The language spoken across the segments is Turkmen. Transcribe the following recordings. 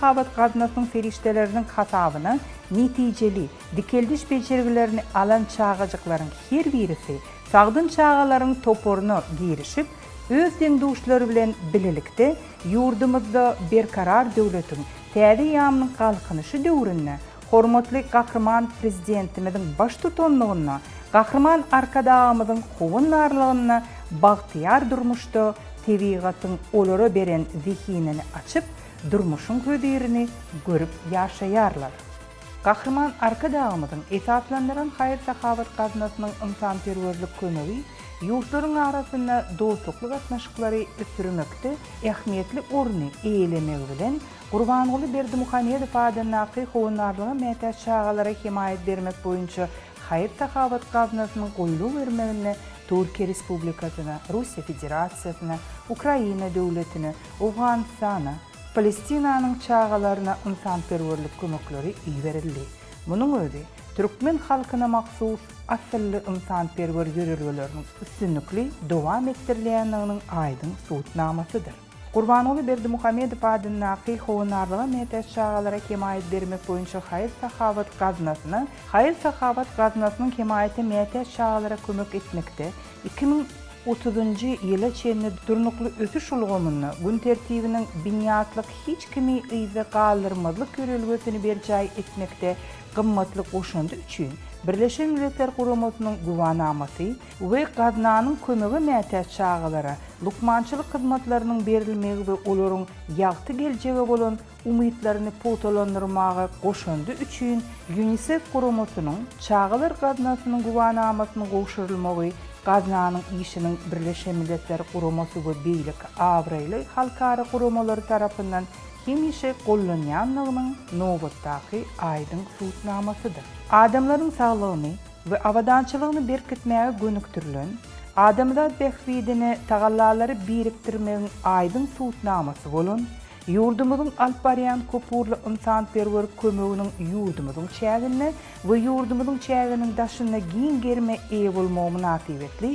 Habat gaznasynyň serişdeleriniň hasabyna netijeli dikeldiş bejergilerini alan çagajyklaryň her birisi sagdyn çagalaryň toparyna girişip, öz deň-duşlary bilen bilelikde ýurdumyzda Berkarar döwletiň täze ýamynyň Galkynyşy döwründe hormatly Gahryman Prezidentimiziň baştutanlygynda Gahryman Arkadagymyzyň howandarlygynda bagtyýar durmuşda tebigatyň olara beren zehinini açyp, durmuşyň hözirini görüp ýaşaýarlar. Gahryman Arkadagymyzyň esaslandyran haýyr-sahawat gaznasynyň ynsanperwerlik kömegi ýurtlaryň arasynda dostlukly gatnaşyklary ösdürmekde ähmiýetli orny eýelemegi bilen, Gurbanguly Berdimuhamedow adyndaky Howandarlyga mätäç çagalara hemaýat bermek boýunça haýyr-sahawat gaznasynyň goýlubermeginde Türkiýe Respublikasyna, Russiýa Federasiýasyna, Ukraina Döwletine, Owganystana, Palestinanyň çagalaryna ynsanperwerlik kömekleri iberildi. Munuň özi türkmen halkyna mahsus asylly ynsanperwer ýörelgeleriniň üstünlikli dowam etdirilýändiginiň aýdyň subutnamasydyr. Gurbanguly Berdimuhamedow adyndaky Howandarlyga mätäç çagalara hemaýat bermek boýunça haýyr-sahawat gaznasyna haýyr-sahawat gaznasynyň hemaýaty mätäç çagalara kömek etmekde, Iki müň otuzynjy ýyla çenli durnukly ösüş ulgamynda gün tertibiniň binýatlyk hiç kimi yzda galdyrmazlyk ýörelgesini berjaý etmekde gymmatly goşandy üçin Birleşen Milletler Guramasynyň Güwänamasy we Gaznanyň kömege mätäç çagalara lukmançylyk hyzmatlarynyň berilmegi we olaryň ýagty geljege bolan umytlaryny pugtalandyrmaga goşandy üçin Ýunisef guramasynyň Çagalar gaznasynyň güwänamasynyň gowşurylmagy gaznanyň işiniň Birleşen Milletler Guramasy we beýleki abraýly halkara guramalary tarapyndan hemişe gollanýandygynyň nobatdaky aýdyň subutnamasydyr. Adamlaryň saglygyny we abadançylygyny berkitmäge gönükdirilen adamzat bähbidine tagallalary birikdirmegiň aýdyň subutnamasy bolan Ýurdumyzyň alyp barýan köpugurly ynsanperwer kömeginiň ýurdumyzyň çäginde we ýurdumyzyň çäginiň daşynda giň gerime eýe bolmagy mynasybetli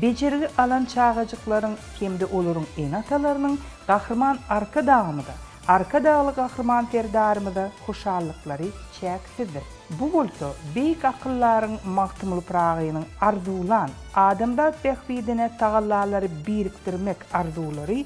bejergi alan çagajyklaryň hem-de olaryň ene-atalarynyň Gahryman Arkadagymyza, Arkadagly Gahryman Serdarymyza hoşallyklary çäksizdir. Bu bolsa beýik akyldaryň Magtymguly Pyragynyň arzuwlan, adamzat bähbidine tagallalary birikdirmek arzuwlary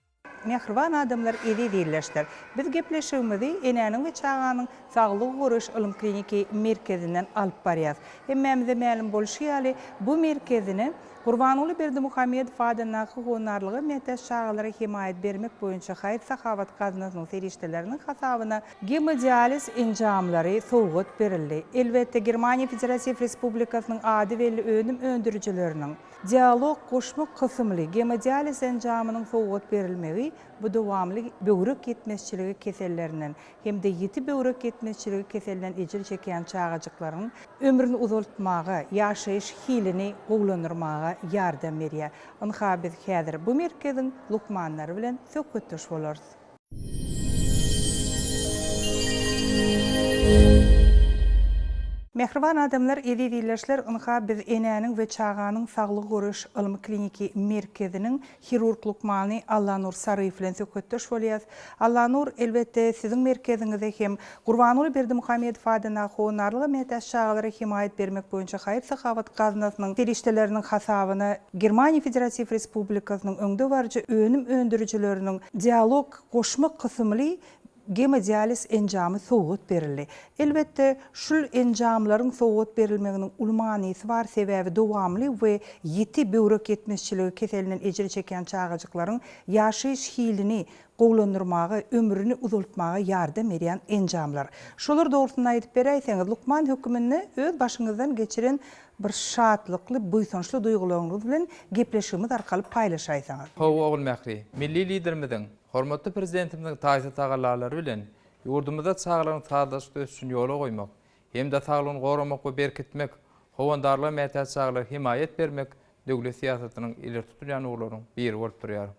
Mähriban adamlar eziz ildeşler! Biz gepleşigimizi Enäniň we çaganyň saglygy goraýyş ylym-kliniki merkezinden alyp barýas. Hemmämize mälim bolşy ýaly, bu merkezini Gurbanguly Berdimuhamedow adyndaky Honarlyga mätäç çagalara hemaýat bermek boýunça haýyr-sahawat gaznasynyň serişdeleriniň hasabyna Gemodializ enjamlary sowgat berildi. Elbetde, Germaniýa Federatiw Respublikasynyň ady belli önüm öndürijileriniň, Dialog goşmak kysymly gemodializ enjamynyň sowgat berilmegi bu dowamly böwrek ýetmezçiligi kesellerinden hem-de ýiti böwrek ýetmezçiligi keselinden ejir çekýän çagajyklaryň ömrüni uzaltmaga, ýaşaýyş hilini gowulandyrmaga ýardam berýär. Ynha, biz häzir bu merkeziň lukmanlary bilen söhbetdeş bolarys. Mähriban adamlar, eziz ildeşler, ynha, biz Enäniň we çaganyň saglygy goraýyş ylmy-kliniki merkeziniň hirurg lukmany Allanur Saryýew bilen söhbetdeş bolýarys. Allanur, elbetde, siziň merkeziňize hem Gurbanguly Berdimuhamedow adyndaky Howannarlyga mätäç çagalara hemaýat bermek boýunça haýyr-sahawat gaznasynyň serişdeleriniň hasabyna Germaniýa Federatiw Respublikasynyň öňdebaryjy önüm öndürijileriniň Dialog goşma kysymly gemodializ enjamy sowgat berildi. Elbetde, şul enjamlaryň sowgat berilmeginiň uly manysy bar, sebäbi dowamly we ýiti böwrek ýetmezçiligi keselinden ejir çekýän çagajyklaryň ýaşaýyş hilini gowulandyrmaga, ömrüni uzaltmaga ýardam berýän enjamlar. Şolar dogrusynda aýdyp beräýseňiz, lukman höküminde öz başyňyzdan geçiren bir şatlykly, buýsançly duýgularyňyz bilen gepleşigimiz arkaly paýlaşaýsaňyz. Hawa, Ogulmähri. Milli Liderimiziň, hormatly Prezidentimiziň taýsyz tagallalary bilen ýurdumyzda çagalaryň sazlaşykly ösüşini ýola goýmak hem-de saglygyny goramak we berkitmek, howandarlyga mätäç çagalara hemaýat bermek döwlet syýasatynyň ileri tutulýan ugurlarynyň biri bolup durýar.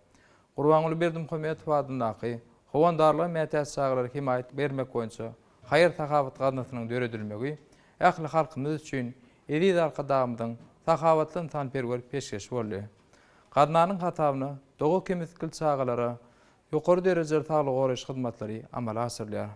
Gurbanguly Berdimuhamedow adyndaky Howandarlyga mätäç çagalara hemaýat bermek boýunça haýyr-sahawat gaznasynyň döredilmegi ähli halkymyz üçin eziz Arkadagymyzyň sahawatly ynsanperwer peşgeşi boldy. Gaznanyň hasabyna doga-kemitgil çagalara ýokary derejeli saglygy goraýyş hyzmatlary amala aşyrylýar.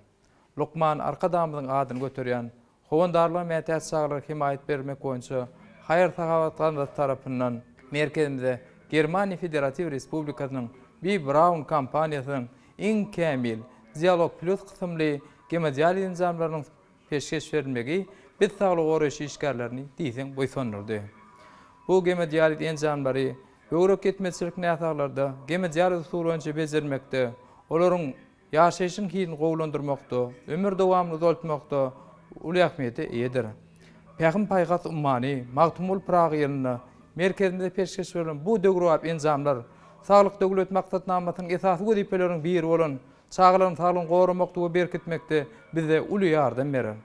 Lukman Arkadagymyzyň adyny göterýän Howandarlyga mätäç çagalara hemaýat bermek boýunça haýyr-sahawat gaznasy tarapyndan merkezimize Germaniýa Federatiw Respublikasynyň B. Braun kompaniýasynyň iň kämil Dialog Plus kysymly gemodializ enjamlarynyň peşgeş berilmegi biz saglygy goraýyş işgärlerini diýseň buýsandyrdy. Bu gemodializ enjamlary böwrek ýetmezçilik näsaglarda gemodializ usuly boýunça bejermekde, olaryň ýaşaýşyň hilini gowulandyrmakda, ömür dowamyny uzaltmakda uly ähmiýete eýedir. Pähim-paýhas ummany Magtymguly Pyragy ýylynda merkezimizde peşgeş berlen bu döwrebap enjamlar Saglyk Döwlet maksatnamasynyň esasy wezipeleriniň biri bolan çagalaryň saglygyny goramakda we berkitmekde bize uly ýardam berer.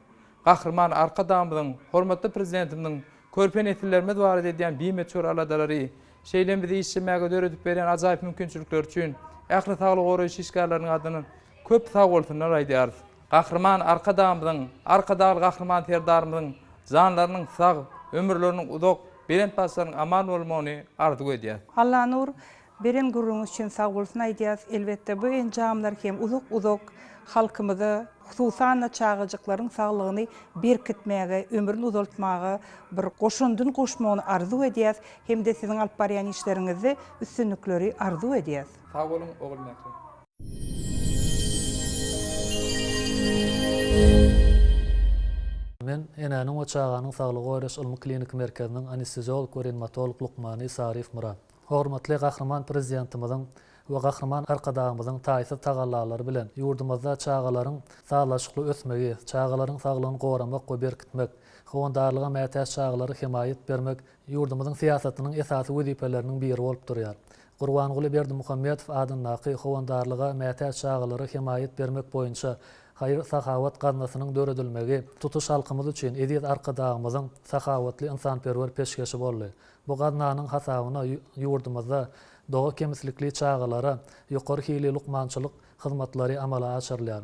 Gahryman Arkadagymyzyň, hormatly Prezidentimiziň körpe nesillerimiz barada edýän bimöçber aladalary Şeýle-m bizi işjemäge döredip berýän ajaýyp mümkinçilikler üçin ähli saglygy goraýyş işgärleriniň adyndan köp sag bolsunlar aýdýarys. Gahryman Arkadagymyzyň, Arkadagly Gahryman Serdarymyzyň janlarynyň sag, ömürleriniň uzak, belent başlarynyň aman bolmagyny arzuw edýäs. Allanur, beren gürrüňiňiz üçin sag bolsun aýdýas. Elbetde, bu enjamlar hem uzak-uzak halkymyza, hususan-da çagajyklaryň saglygyny berkitmäge, ömrüni uzaltmaga bir goşandyny goşmagyny arzuw edýäs. Hem-de siziň alyp barýan işleriňizde üstünlikleri arzuw edýäs. Sag boluň Ogul Mähri. Men Enäniň we çaganyň saglygy goraýyş ylmy-kliniki merkeziniň anesteziolog we reanimatolog lukmany Saryýew Myrat. Hormatly Gahryman Prezidentimiziň we Gahryman Arkadagymyzyň taýsyz tagallalary bilen ýurdumyzda çagalaryň sazlaşykly ösmegi, çagalaryň saglygyny goramak we berkitmek, howandarlyga mätäç çagalara hemaýat bermek ýurdumyzyň syýasatynyň esasy wezipeleriniň biri bolup durýar. Gurbanguly Berdimuhamedow adyndaky Howandarlyga mätäç çagalara hemaýat bermek boýunça haýyr-sahawat gaznasynyň döredilmegi tutuş halkymyz üçin eziz Arkadagymyzyň sahawatly ynsanperwer peşgeşi boldy. Bu gaznanyň hasabyna ýurdumyzda doga kemslikli çagalara ýokary hilli lukmançylyk hyzmatlary amala aşyrylýar.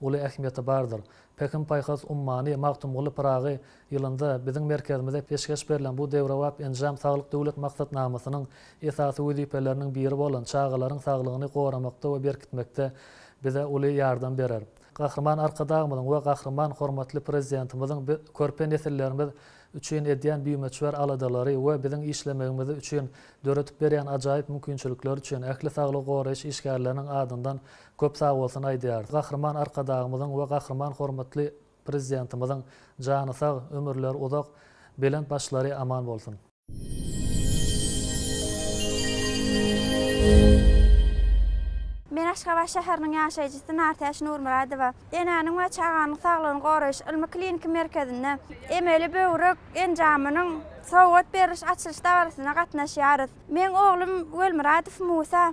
uly ähmiýeti bardyr. Pähim-paýhas ummany Magtymguly Pyragy ýylynda biziň merkezimize peşgeş berlen bu döwrebap enjam Saglyk Döwlet maksatnamasynyň esasy wezipeleriniň biri bolan çagalaryň saglygyny goramakda we berkitmekde bize uly ýardam berer. Gahryman Arkadagymyzyň we Gahryman hormatly Prezidentimiziň körpe nesillerimiz üçin edýän bimöçber aladalary we biziň işlemegimiz üçin döredip berýän ajaýyp mümkinçilikleri üçin ähli saglygy goraýyş işgärleriniň adyndan Köp sag bolsun aýdýarys. Gahryman Arkadagymyzyň we Gahryman hormatly Prezidentimiziň jany sag, ömürleri uzak, belent başlary aman bolsun! Men Aşgabat şäheriniň ýaşaýjysy Nartäç Nurmyradowa. Enäniň we çaganyň saglygyny goraýyş ylmy-kliniki merkezinde emeli böwrek enjamynyň sowgat beriliş açylyş dabarasyna gatnaşýarys. Meň oglum Welmyradow Musa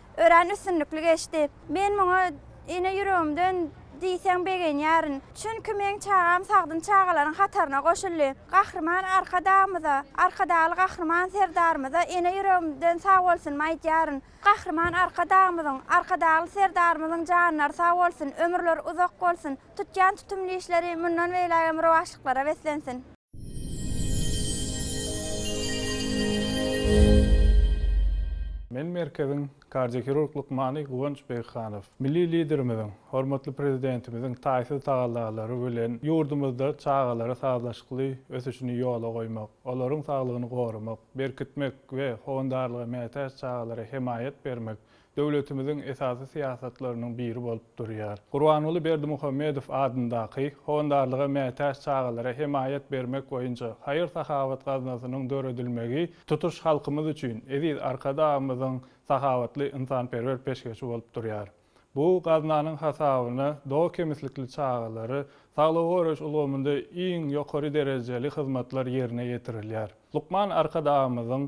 Örän üstünlikli geçdi. Men muňa ene ýüregimden diýseň begenýärin. Çünki meň çagam sagdyn çagalaryň hataryna goşuldy. Gahryman Arkadagymyza, Arkadagly Gahryman Serdarymyza ene ýüregimden sag bolsunymy aýdýaryn. Gahryman Arkadagymyzyň, Arkadagly Serdarymyzyň janlary sag bolsun, ömürleri uzak bolsun, tutýan tutumly işleri mundan beýlägem rowaçlyklara beslensin! Men merkeziň kardiohirurg lukmany Guwanç Begihanow. Milli Liderimiziň, hormatly Prezidentimiziň taýsyz tagallalary bilen ýurdumyzda çagalara sazlaşykly ösüşini ýola goýmak, olaryň saglygyny goramak, berkitmek we howandarlyga mätäç çagalara hemaýat bermek döwletimiziň esasy syýasatlarynyň biri bolup durýar. Gurbanguly Berdimuhamedow adyndaky Howandarlyga mätäç çagalara hemaýat bermek boýunça haýyr-sahawat gaznasynyň döredilmegi tutuş halkymyz üçin eziz Arkadagymyzyň sahawatly ynsanperwer peşgeşi bolup durýar. Bu gaznanyň hasabyna doga kemslikli çagalary saglygy goraýyş ulgamynda iň ýokary derejeli hyzmatlar ýerine ýetirilýär. Lukman Arkadagymyzyň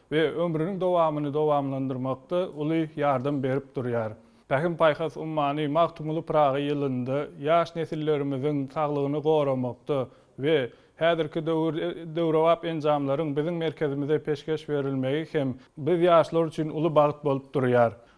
we ömrüniň dowamyny dowamlandyrmakda uly ýardam berip durýar. Pähim-paýhas ummany Magtymguly Pyragy ýylynda ýaş nesillerimiziň saglygyny goramakda we häzirki döwür döwrebap enjamlaryň biziň merkezimize peşgeş berilmegi hem biz ýaşlar üçin uly bagt bolup durýar.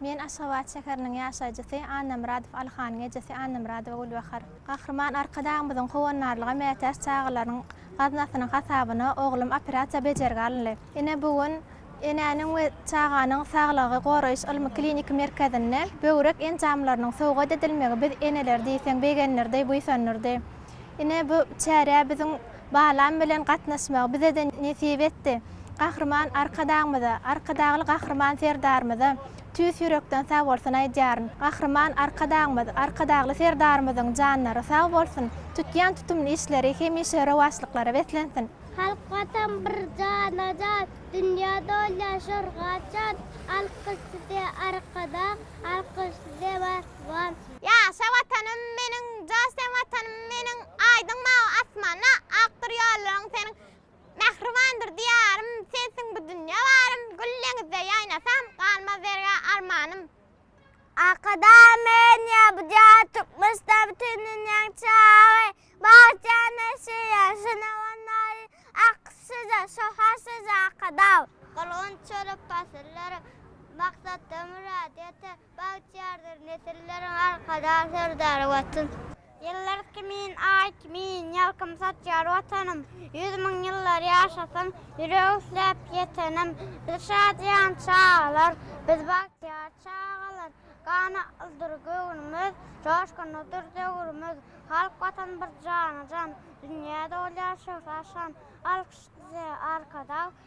Men Aşgabat şäheriniň ýaşaýjysy Annamyradow Alyhanyň ejesi Annamyradowa Gülbahar. Gahryman Arkadagymyzyň howandarlyga mätäç çagalaryň gaznasynyň hasabyna oglum operasiýa bejergi alyndy. Ine bu gün Enäniň we çaganyň saglygy goraýyş ylmy-kliniki merkezinde böwrek enjamlarynyň sowgat edilmegi biz eneleri diýseň begendirdi, buýsandyrdy. Ine, bu çärä biziň balam bilen gatnaşmagy bize-de nesip etdi. Gahryman Arkadagymyza, Arkadagly Gahryman Serdarymyza tüýs ýürekden sagbolsun aýdýaryn. Gahryman Arkadagymyz, Arkadagly Serdarymyzyň janlary sag bolsun, tutýan tutumly işleri hemişe rowaçlyklara beslensin! Halk Watan bir jana jan, Dünýä dolýar şorga çan, Alkyş size Arkadag, Alkyş size Watan! Ýaşa Watanym meniň, Joş sen Watanym meniň, Aýdyň mawy asmanda, Akdyr ýollaryň seniň. Mähribandyr Diýarym, Sensiň bu dünýe barym, Gül deňizde ýaýnasam, Galmaz zergä armanym. Arkada men ýa bu jaýa Türkmenistan bütin dünýäň çyragy Bagt jan neşir ýar şuna wannari Ak şyja şöhrat şyja Arkadaw. Gylgynç çörek pasyllarym Maksatda mürad ýeter Bagtyýardyr nesilleriň Arkadag Serdary Watan. Ýyllar kimin, Aý kimin, Ýalkym saçýar Watanym. Ýüz müň ýyllar ýaşasyn, Ýürek isläp Ýetenim. Biz şadyýan çagalar, Biz bagtyýar çagalar. Ganatlydyr göwnümiz, Joşgunlydyr döwrümiz. Halk Watan bir jana-jan, Dünýä dolýar şöhrat-şan. Alkyş size, Arkadag!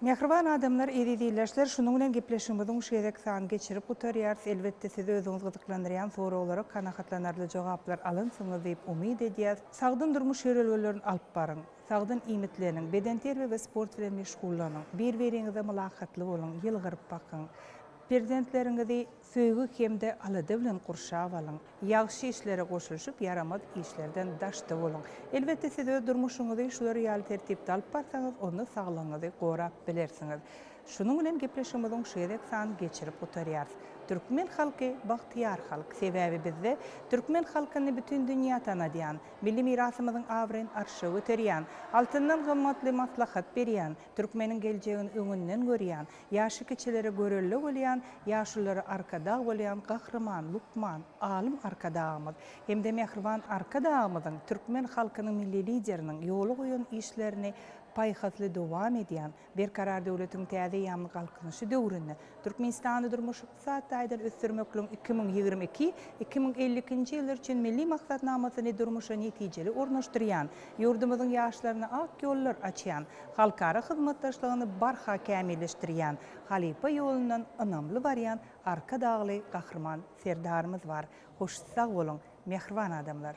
Mähriban adamlar eziz ildeşler şunuň bilen gepleşigimiziň şu gezek sany geçirip gutarýarys elbetde sizi özüňiz gyzyklandyrýan soraglara kanagatlanarly jogaplar alynsyňyz diýip umyt edýäs sagdyn durmuş ýörelgelerini alyp baryň sagdyn iýmitleniň bedenterbiýe we sport bilen meşgullanyň bir biriňize mylakatly boluň ýylgyryp bakyň perzentleriňizi söýgi hemde alada bilen gurşap alyň. Ýagşy işlere goşulyşyp, ýaramaz işlerden daşda boluň. Elbetde, siz öz durmuşyňyzy şular ýaly tertipde alyp barsaňyz, onda saglygyňyzy gorap bilersiňiz. Şunuň bilen gepleşigimiziň şu gezek sanyny geçirip gutarýarys. Türkmen halky bagtyýar halk. Sebäbi bizde türkmen halkyny bütin dünýä tanadýan, milli mirasymyzyň abraýyny arşa göterýän, altyndan gymmatly maslahat berýän, türkmeniň geljegini öňünden görýän, Ýaşy kiçilere görelde bolýan, ýaşulylara arkadag bolýan Gahryman, lukman, alym Arkadagymyz hem-de mähriban Arkadagymyzyň türkmen halkynyň Milli Lideriniň ýola goýan işlerini paýhasly dowam edýän Berkarar döwletiň täze ýaman galkynyşy döwründe Türkmenistany durmuş Ykdysady taýdan ösdürmekligiň iki müň ýigrimi iki, iki müň elli ikinji ýyllar üçin Milli maksatnamasyny durmuşa netijeli ornaşdyrýan, ýurdumyzyň ýaşlaryna ak ýollar açýan, halkara hyzmatdaşlygyny barha kämilleşdirýän, halypa ýolundan ynamly barýan Arkadagly Gahryman Serdarymyz bar. Hoş sag boluň, mähriban adamlar!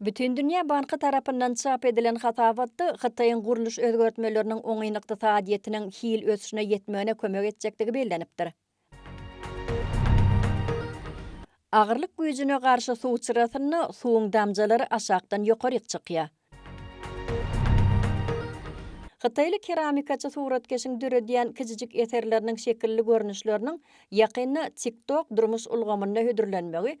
Bütindünýä banky tarapyndan çap edilen hasabatda Hytaýyň gurluş özgertmeleriniň oňyn ykdysadyýetiniň hil ösüşine ýetmegine kömek etjekdigi bellenipdir. Agyrlyk güýjüne garşy suw çyrasynda suwuň damjalary aşakdan ýokaryk çykýar. Hytaýly keramikaçy suratkeşiň döredýän kiçijik eserleriniň şekilli görnüşleriniň ýakynda TikTok durmuş ulgamynda hödürlenmegi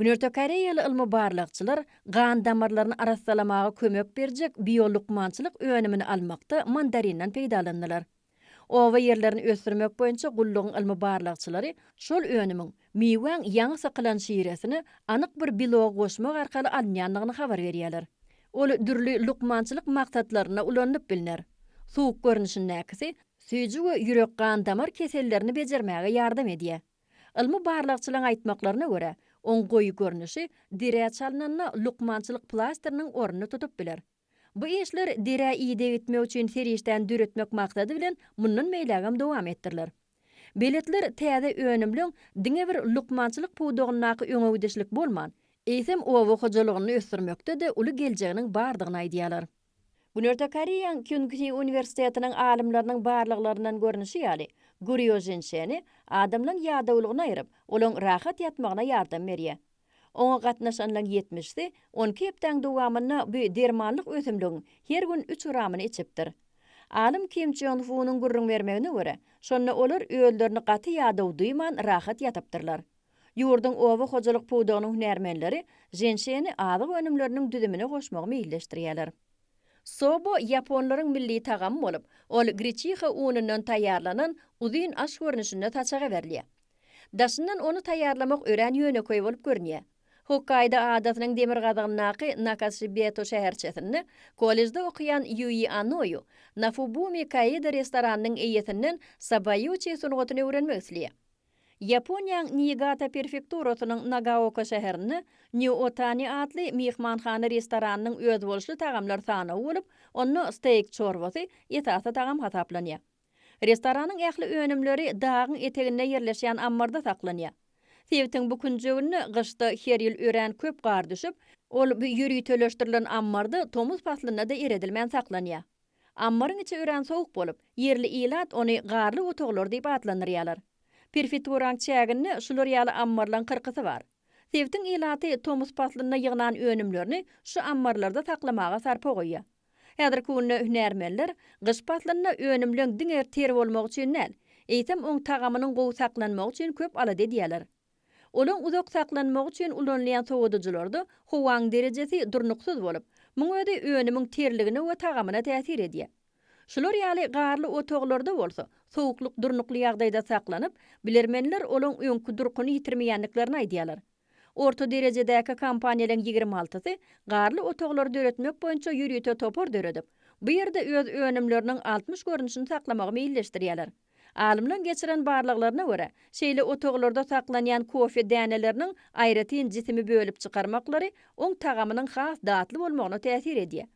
Günorta koreýaly ylmy-barlagçylar gan damarlaryny arassalamaga kömek berjek biolukmançylyk önümini almakda mandarinden peýdalandylar. Oba ýerlerini ösdürmek boýunça gullugyň ylmy-barlagçylary şol önümiň miwäň ýaňy sykylan şiresine anyk bir belogy goşmak arkaly alynýandygyny habar berýärler. Ol dürli lukmançylyk maksatlarynda ulanylyp bilner. Suwuk görnüşindäkisi süýji we ýürek-gan damar kesellerini bejermäge ýardam edýär. Ylmy barlagçylaryň aýtmaklaryna görä, oň goýy görnüşi derä çalnanda lukmançylyk plasteriniň ornuny tutup biler. Bu işler derä ideg etmek üçin serişdäni döretmek maksady bilen mundan beýlägem dowam etdiriler. Beletler täze önümliň diňe bir lukmançylyk pudagyndaky öňegidişlik bolman, eýsem oba hojalygynda ösdürmekde-de uly geljeginiň bardygyny aýdýarlar. Günorta Koreýaň Kyunghi uniwersitetiniň alymlarynyň barlaglaryndan görnüşi ýaly, gurýo ženşeni adamlaryň ýadawlygyny aýryp, olaryň rahat ýatmagyna ýardam berýär. Oňa gatnaşanlaryň ýetmişisi on iki hepdäň dowamynda bu dermanlyk ösümligiň her gün üç gramyny içipdir. Alym Kim Çon Hunyň gürrüň bermegine görä, şonda olar özlerini gaty ýadaw duýman rahat ýatypdyrlar. Ýurduň oba hojalyk pudagynyň hünärmenleri ženşeni azyk önümleriniň düzümine goşmagy meýilleşdirýärler. Sobo ýaponlaryň milli tagamy bolup, ol greçiha unundan taýýarlanan uzyn aş görnüşinde saçaga berilýär. Daşyndan ony taýýarlamak örän ýönekeý bolup görünýär. Hokkaýdo adasynyň demirgazygyndaky Nakashibeto şäherçesinde kollejde okaýan Ýuý Anoýu Nafubumi Kaýda restoranynyň eýesinden sabaýuçi sungatyny öwrenmek isleýär. Ýaponiýaň Niigata perfekturasynyň Nagaoka şäherinde New Otani atly myhmanhana-restoranynyň özboluşly tagamlar sanawy bolup, onda steýk çorbasy esasy tagam hasaplanýar. Restoranyň ähli önümleri dagyň eteginde ýerleşýän ammarda saklanýar. Sebitiň bu künjeginde gyşda her ýyl örän köp gar düşüp, ol bu ýöriteleşdirilen ammarda tomus paslynda-da eredilmän saklanýar. Ammaryň içi örän sowuk bolup, ýerli ilat ony garly otaglar diýip atlandyrýarlar. Prefekturaň çäginde şular ýaly ammarlaň kyrkysy bar. Sebitiň ilaty tomus paslynda ýygnan önümlerini şu ammarlarda saklamaga sarpa goýýar. Häzirki günde hünärmenler gyş paslynda önümleň diňe ter bolmagy üçin däl, eýsem oň tagamynyň gowy saklanmagy üçin köp alada edýärler. Olaň uzak saklanmagy üçin ulanylýan sowadyjylarda howaň derejesi durnuksyz bolup, muň özi önümiň terligine we tagamyna täsir edýär. Şular ýaly garly otaglarda bolsa, sowuklyk durnukly ýagdaýda saklanyp, bilermenler olaň öňki durkuny ýitirmeýändiklerini aýdýarlar. Orta derejedäki kompaniýalaryň ýigrimi altysy garly otaglary döretmek boýunça ýörite topar döredip, bu ýerde öz önümleriniň altmyş görnüşini saklamagy meýilleşdirýärler. Alymlaň geçiren barlaglaryna görä, şeýle otaglarda saklanýan kofe däneleriniň aýratyn jisimi bölüp çykarmaklary oň tagamynyň has datly bolmagyna täsir edýär.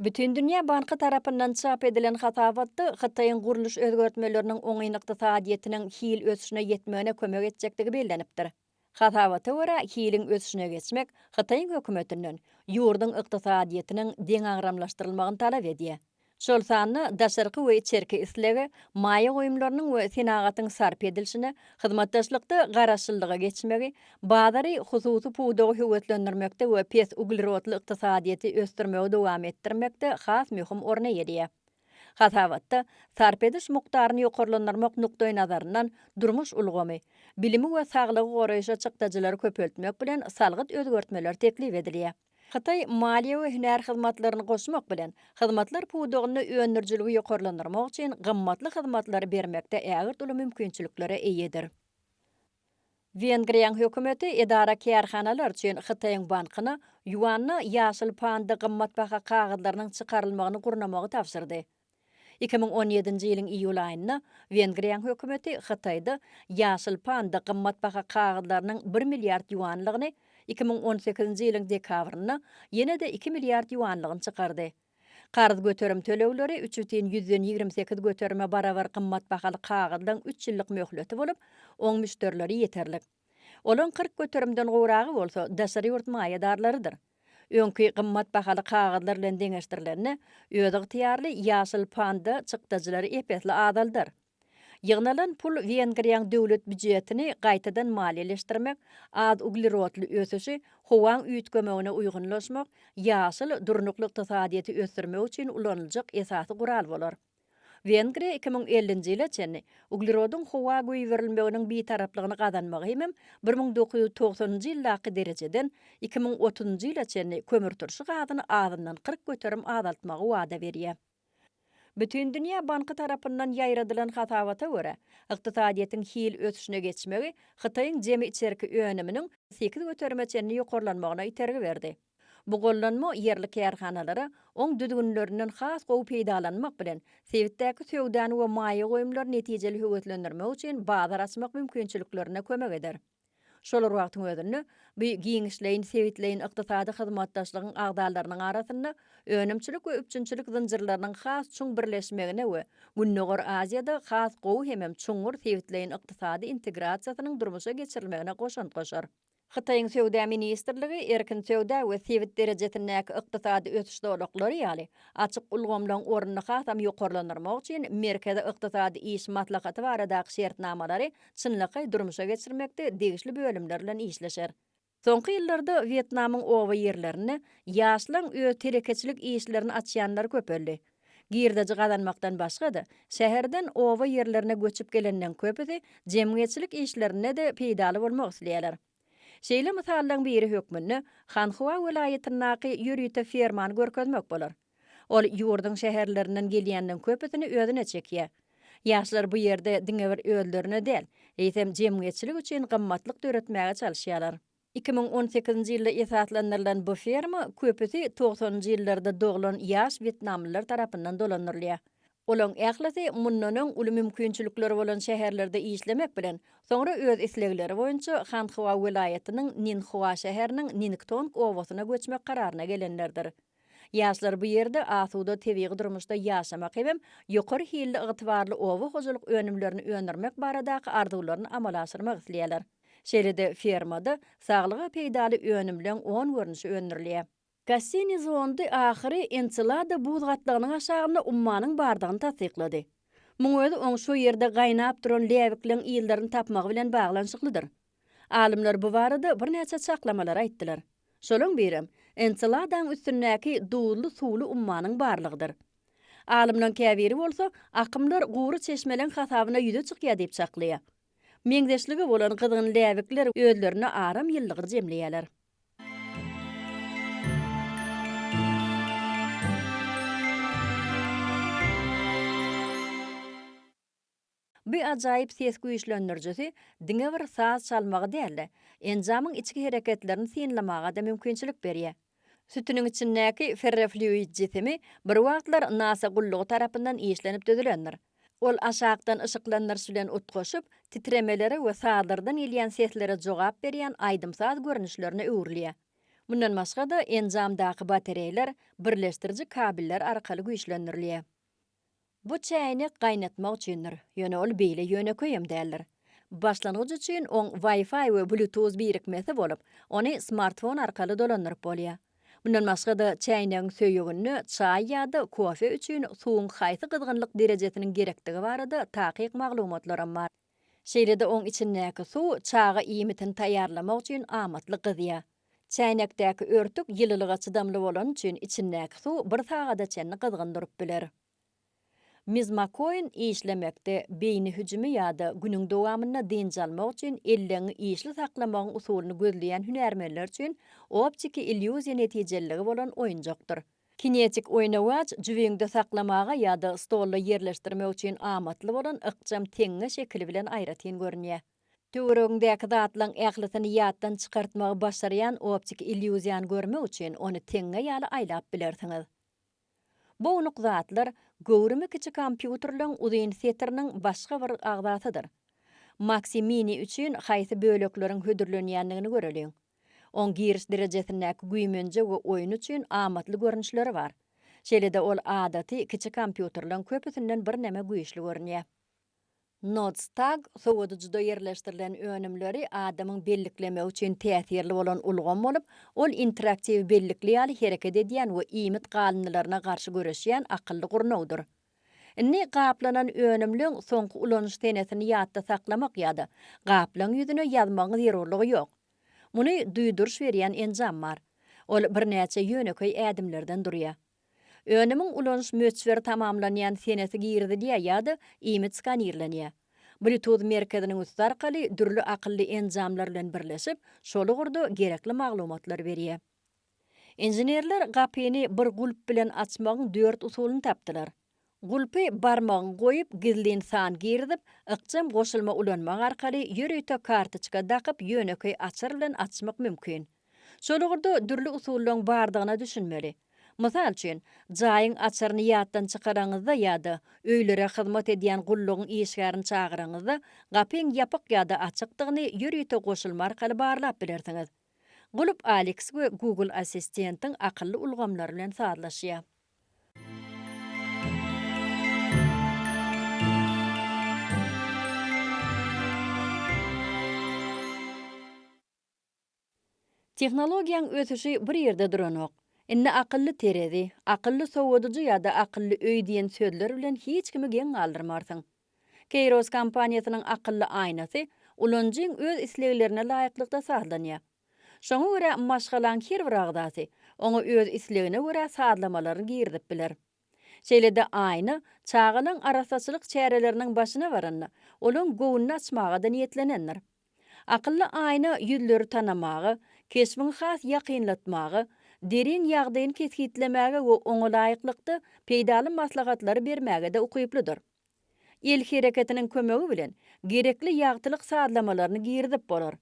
Bütindünýä banky tarapyndan çap edilen hasabatda Hytaýyň gurluş özgertmeleriniň oňyn ykdysadyýetiniň hil ösüşine ýetmegine kömek etjekdigi bellenipdir. Hasabata görä, hiliň ösüşine geçmek Hytaýyň hökümetinden ýurduň ykdysadyýetiniň deňagramlaşdyrylmagyny talap edýär. şol sanda daşarky we içerki islege, maýa goýumlarynyň we senagatyň sarp edilişine, hyzmatdaşlykda Garaşsyzlyga geçmegi, bazary hususy pudagy höweslendirmekde we pes uglerodly ykdysadyýeti ösdürmegi dowam etdirmekde has möhüm orun eýeleýär. Hasabatda sarp ediş mukdaryny ýokarlandyrmak nukdaýnazaryndan durmuş ulgamy, bilimi we saglygy goraýşa çykdajylary köpeltmek bilen salgyt özgertmeleri teklip edilýär. Hytaý maliýe we hünär hyzmatlaryny goşmak bilen, hyzmatlar pudagynda öndürijiligi ýokarlandyrmak üçin gymmatly hyzmatlary bermekde ägirt uly mümkinçiliklere eýedir. Wengriýanyň hökümeti edara-kärhanalar üçin Hytaýyň bankyna ýuanda ýaşyl panda gymmatbaha kagyzlarynyň çykarylmagyny gurnamagy tabşyrdy. Iki müň on ýedinji ýylyň iýul aýynda Wengriýanyň hökümeti Hytaýda ýaşyl panda gymmatbaha kagyzlarynyň bir milliard ýuanlygyny, iki müň on sekizinji ýylyň dekabrynda ýene-de iki milliard ýuanlygyny çykardy. Karz göterim tölegleri üç bütin ýüzden ýigrimi sekiz göterime barabar gymmatbahaly kagyzlaň üç ýyllyk möhleti bolup, oň müşderileri ýeterlik. Olaryň kyrk göterimden gowragy bolsa daşary ýurt maýadarlarydyr. Öňki gymmat bahaly kagyzlar bilen deňeşdirilende, özygtyýarly ýaşyl panda çykdajylary ep-esli azaldar. Ýygnalan pul Wengriýaň döwlet býujetini gaýtadan maliýeleşdirmek, az uglerodly ösüşi, howaň üýtgemegine uýgunlaşmak, ýaşyl, durnukly ykdysadyýeti ösdürmek üçin ulanyljak esasy gural bolar. Wengriýa iki müň ellinji ýyla çenli uglerodyň howa goýberilmeginiň bitaraplygyny gazanmagy hemem bir müň dokuz ýüz togsanynjy ýyldaky derejeden iki müň otuzynjy ýyla çenli kömürturşy gazyny azyndan kyrk göterim azaltmagy wada berýär. Bütindünýä banky tarapyndan ýaýradylan hasabata görä, ykdysadyýetiň hil ösüşine geçmegi Hytaýyň jemi içerki önüminiň sekiz göterime çenli ýokarlanmagyna itergi berdi. Bu gollanma ýerli kärhanalara oň düzgünlerinden has gowy peýdalanmak bilen, sebitdäki söwdany we maýa goýumlary netijeli höweslendirmek üçin bazar açmak mümkinçiliklerine kömek eder. Şol bir wagtyň özünde, bu giňişleýin sebitleýin ykdysady hyzmatdaşlygyň agzalarynyň arasynda önümçilik we üpjünçilik zynjyrlarynyň has çuň birleşmegine we Gündogar Aziýada has gowy hemem çuňňur sebitleýin ykdysady integrasiýasynyň durmuşa geçirilmegine goşant goşar. Hytaýyň Söwda ministrligi erkin söwda we sebit derejesindäki ykdysady ösüş zolaklary ýaly, açyk ulgamlaryň ornuny hasam ýokarlandyrmak üçin Merkezi ykdysady iş maslahaty baradaky şertnamalary çynlakaý durmuşa geçirmekde degişli bölümler bilen işleşer. Soňky ýyllarda Wýetnamyň oba ýerlerinde ýaşlaryň öz telekeçilik işlerini açýanlary köpeldi. Girdeji gazanmakdan başga-da, şäherden oba ýerlerine göçüp gelenden köpüsi jemgyýetçilik işlerinde-de peýdaly bolmak isleýärler. Şeýle mysallaryň biri hökmünde Hanhua welaýatyndaky ýörite fermany görkezmek bolar. Ol ýurduň şäherlerinden gelýänleriň köpüsini özüne çekýär. Ýaşlar bu ýerde diňe bir özlerine däl, eýsem jemgyýetçilik üçin gymmatlyk döretmäge çalyşýarlar. Iki müň on sekizinji ýylda esaslandyrylan bu ferma köpüsi togsanynjy ýyllarda doglan ýaş wýetnamlylar tarapyndan dolandyrylýar. Olaň ählisi mundan öň uly mümkinçilikleri bolan şäherlerde işlemek bilen, soňra öz islegleri boýunça Hanhua welaýatynyň Ninhua şäheriniň Ningtong obasyna göçmek kararyna gelenlerdir. Ýaşlar bu ýerde asuda tebigy durmuşda ýaşamak hebem ýokary hilli ygtybarly oba hojalyk önümlerini öndürmek baradaky arzuwlaryny amala aşyrmak isleýärler. Şeýle-de fermada saglyga peýdaly önümleň on görnüşi öndürilýär. Kassini zondy ahyry Enselada buz gatlagynyň aşagynda ummanyň bardygyny tassyklady. Muň özi oň şo ýerde gaýnap duran läbikleň yzlaryny tapmagy bilen baglanyşyklydyr. Alymlar bu barada birnäçe çaklamalary aýtdylar. Şolaň birem, Enseladaň üstündäki duzly suwly ummanyň barlygydyr. Alymlaň käbiri bolsa, akymlar gury çeşmeleň hasabyna ýüze çykýar diýip çaklaýar. Meňzeşligi bolan gyzgyn läbikler özlerine aram ýyllygy jemleýärler. Bu ajaýyp ses güýçlendirijisi diňe bir saz çalmagy däl-de, enjamyň içki hereketlerini synlamaga-da mümkinçilik berýär. Sütüniň içindäki ferrofluid jisimi bir wagtlar NASA gullugy tarapyndan işlenip düzülendir. Ol aşakdan yşyklandyryş bilen utgaşyp, titremelere we sazlardan gelýän seslere jogap berýän aýdym-saz görnüşlerine öwrülýär. Mundan başga-da, enjamdaky batareýler birleşdiriji kabellar arkaly güýçlendirilýär. Bu çäýnek gaýnatmak üçindir, ýöne ol beýle ýönekeýem däldir. Başlangyç üçin oň Wi-Fi we Bluetooth birikmesi bolup, ony smartfon arkaly dolandyryp bolýar. Mundan başga-da, çäýnegiň söýeginde çaý ýa-da kofe üçin suwuň haýsy gyzgynlyk derejesiniň gerekdigi barada takyk maglumatlaram bar. Şeýle-de oň içindäki suw çaga iýmitini taýýarlamak üçin amatly gyzýar. Çäýnekdäki örtük ýylylyga çydamly bolany üçin içindäki suw bir sagada çenli gyzgyn durup biler. Mizmakoin işlemekde, beýni hüjümi ýa-da günüň dowamynda dynç almak üçin elleňňi işli saklamagyň usulyny gözleýän hünärmenler üçin optiki illýuziýa netijeliligi bolan oýunjakdyr. Kinetik oýnawaç jübiňde saklamaga ýa-da stolda ýerleşdirmek üçin amatly bolan ykjam teňňe şekili bilen aýratyn görünýär. Töweregiňdäki zatlaryň ählisini ýatdan çykartmagy başarýan optiki illýuziýany görmek üçin ony teňňe ýaly aýlap bilersiňiz. Bu ownuk zatlar göwrümi kiçi kompýuterleriň uzyn setiriniň başga bir agzasydyr. Maxi Mini üçin haýsy bölekleriň hödürlenýändigini göreliň. Oň giriş derejesindäki güýmenje we oýun üçin amatly görnüşleri bar. Şeýle-de ol adaty kiçi kompýuterleň köpüsinden birneme güýçli görünýär. Nodstag sowadyjyda ýerleşdirilen önümleri adamyň belliklemegi üçin täsirli bolan ulgam bolup, ol interaktiw bellikli ýaly hereket edýän we iýmit galyndylaryna garşy göreşýän akylly gurnawdyr. Indi gaplanan önümleň soňky ulanyş senesini ýatda saklamak ýa-da gaplaň ýüzüne ýazmagyň zerurlygy ýok. Muny duýduryş berýän enjam bar. Ol birnäçe ýönekeý ädimlerden durýar. Önümiň ulanyş möçberi tamamlanýan senesi girizilýär ýa-da iýmit skanirlenýär. Bluetooth merkeziniň üsti arkaly dürli akylly enjamlar bilen birleşip, şol ugurda gerekli maglumatlar berýär. Inženerler gapyny bir gulp bilen açmagyň dört usulyny tapdylar. Gulpy barmagyňy goýup, gizlin san girizip, ykjam goşulma ulanmak arkaly ýörite kartoçka dakyp ýönekeý açar bilen açmak mümkin. Şol ugurda dürli usullaryň bardygyna düşünmeli. Mysal üçin, jaýyň açaryny ýatdan çykaraňyzda ýa-da öýlere hyzmat edýän gullugyň işgärini çagyraňyzda gapyň ýapyk ýa-da açykdygyny ýörite goşulma arkaly barlap bilersiňiz. Gulp Alex we Google Assistent-iň akylly ulgamlary bilen sazlaşýar. Tehnologiýanyň ösüşi bir ýerde duranok. Indi akylly terezi, akylly sowadyjy ýa-da akylly öý diýen sözler bilen hiç kimi geň galdyrmarsyň. Kairos kompaniýasynyň akylly aýnasy ulanyjyň öz isleglerine laýyklykda sazlanýar. Şoňa görä maşgalaň her bir agzasy oňa öz islegine görä sazlamalaryny girizip biler. Şeýle-de aýna çagalaň arassaçylyk çäreleriniň başyna baranda, olaň göwnüni açmaga-da niýetlenendir. Akylly aýna ýüzleri tanamaga, keşbiňi has ýakynlatmaga, derýň ýagdaýyny kesgitlemäge we oňa laýyklykda peýdaly maslahatlary bermäge-de ukyplydyr. El hereketiniň kömegi bilen gerekli ýagtylyk sazlamalaryny girizip bolar.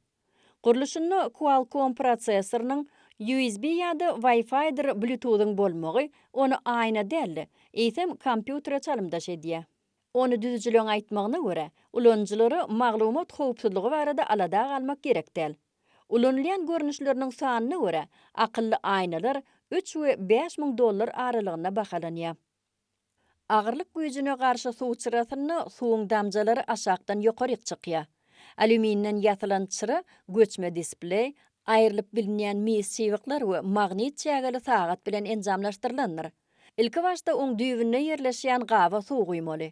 Gurluşynda Qualcomm prosessorynyň, USB ýa-da Wi-Fi-dir Bluetooth-yň bolmagy ony aýna däl-de, eýsem kompýutere çalymdaş edýär. Ony düzüjileň aýtmagyna görä, ulanyjylara maglumat howpsuzlygy barada alada galmak gerek däl. Ulanylýan görnüşleriniň sanyna görä, akylly aýnalar üç we bäş müň dollar aralygynda bahalanýar. Agyrlyk güýjüne garşy suw çyrasynda suwuň damjalary aşakdan ýokaryk çykýar. Alýuminden ýasalan çyra göçme displeý, aýrylyp bilinýän mis çybyklar we magnit çägeli sagat bilen enjamlaşdyrylandyr. Ilki başda oň düýbünde ýerleşýän gaba suw guýmaly.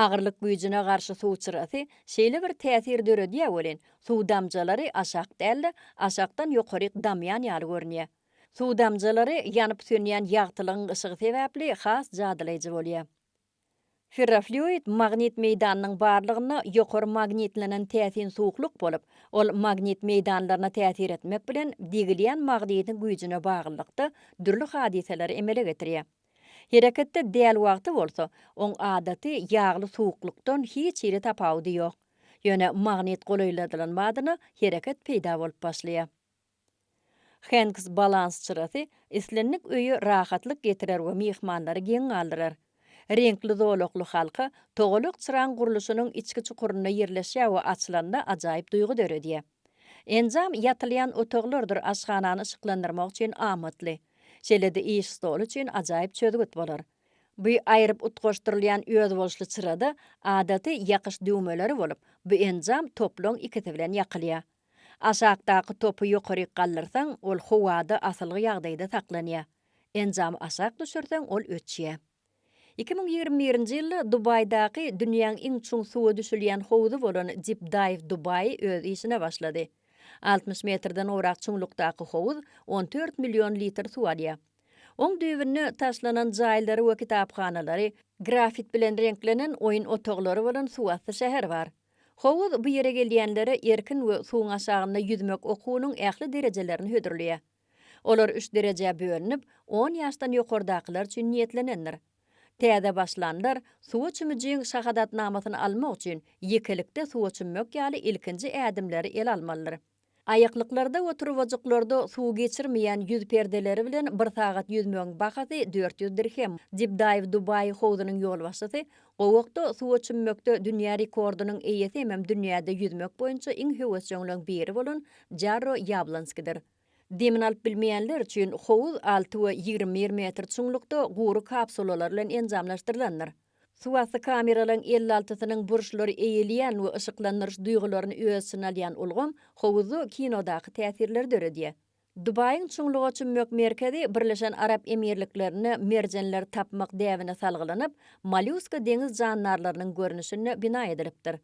Agyrlyk güýjüne garşy suw çyrasy şeýle bir täsir döredýär welin, suw damjalary aşak däl-de, aşakdan ýokaryk damýan ýaly görünýär. Suw damjalary ýanyp-sönýän ýagtylygyň yşygy sebäpli has jadylaýjy bolýar. Ferrofluid magnit meýdanynyň barlygynda ýokary magnitlenen täsin suwuklyk bolup, ol magnit meýdanlaryna täsir etmek bilen degilýän magnitiň güýjüne baglylykda dürli hadysalary emele getirýär. Hereketde däl wagty bolsa, oň adaty ýagly suwuklykdan hiç hili tapawudy ýok. Ýöne magnit golaýladylan badyna hereket peýda bolup başlaýar. Hanks balans çyrasy islendik öýe rahatlyk getirer we myhmanlary geň galdyrar. Reňkli zolakly halka togalak çyraň gurluşynyň içki çukurynda ýerleşýär we açylanda ajaýyp duýgy döredýär. Enjam ýatylýan otaglardyr aşhanany yşyklandyrmak üçin amatly. Şeýle-de iş stoly üçin ajaýyp çözgüt bolar. Bu aýryp utgaşdyrylýan özboluşly çyrada adaty ýakyş düwmeleri bolup, bu enjam toplaň ikisi bilen ýakylýar. Aşakdaky topy ýokaryk galdyrsaň, ol howada asylgy ýagdaýda saklanýar. Enjamy aşak düşürseň, ol öçýär. Iki müň ýigrimi birinji ýylda Dubaýdaky dünýäň iň çuň suwa düşülýän howzy bolan Deep Dive Dubai öz işine başlady. Altmyş metrden gowrak çuňlukdaky howuz on dört million litr suw alýar. Oň düýbünde taşlanan jaýlary we kitaphanalary, grafit bilen reňklenen oýun otaglary bolan suwasty şäher bar. Howuz bu ýere gelýänlere erkin we suwuň aşagynda ýüzmek okuwynyň ähli derejelerini hödürleýär. Olar üç derejä bölünip, on ýaşdan ýokardakylar üçin niýetlenendir. Täze başlanlar suwa çümijiň şahadatnamasyny almak üçin ýekelikde suwa çümmek ýaly ilkinji ädimleri ele almalydyr. Aýaklyklarda we turbajyklarda suw geçirmeýän ýüz perdeleri bilen bir sagat ýüzmegiň bahasy dört ýüz dirhem. Dibdaýew Dubaý howzunyň ýolbaşçysy, Gowakda suwa çümmekde dünýä rekordynyň eýesi hemem dünýäde ýüzmek boýunça iň höwesjeňleň biri bolan Jarro Ýablonskidir. Demini alyp bilmeýänler üçin howuz alty we ýigrimi bir metr çuňlukda gury kapsulalar bilen enjamlaşdyrylandyr. Suwasty kameralaryň elli altysynyň burçlary eýeleýän we yşyklandyryş duýgularyny öz içine alýan ulgam howuzly kinodaky täsirleri döredýär. Dubaýyň çuňluga çümmek merkezi Birleşen Arap Emirliklerinde merjenleri tapmak däbine salgylanyp, mollýuska deňiz jandarlarynyň görnüşinde bina edilipdir.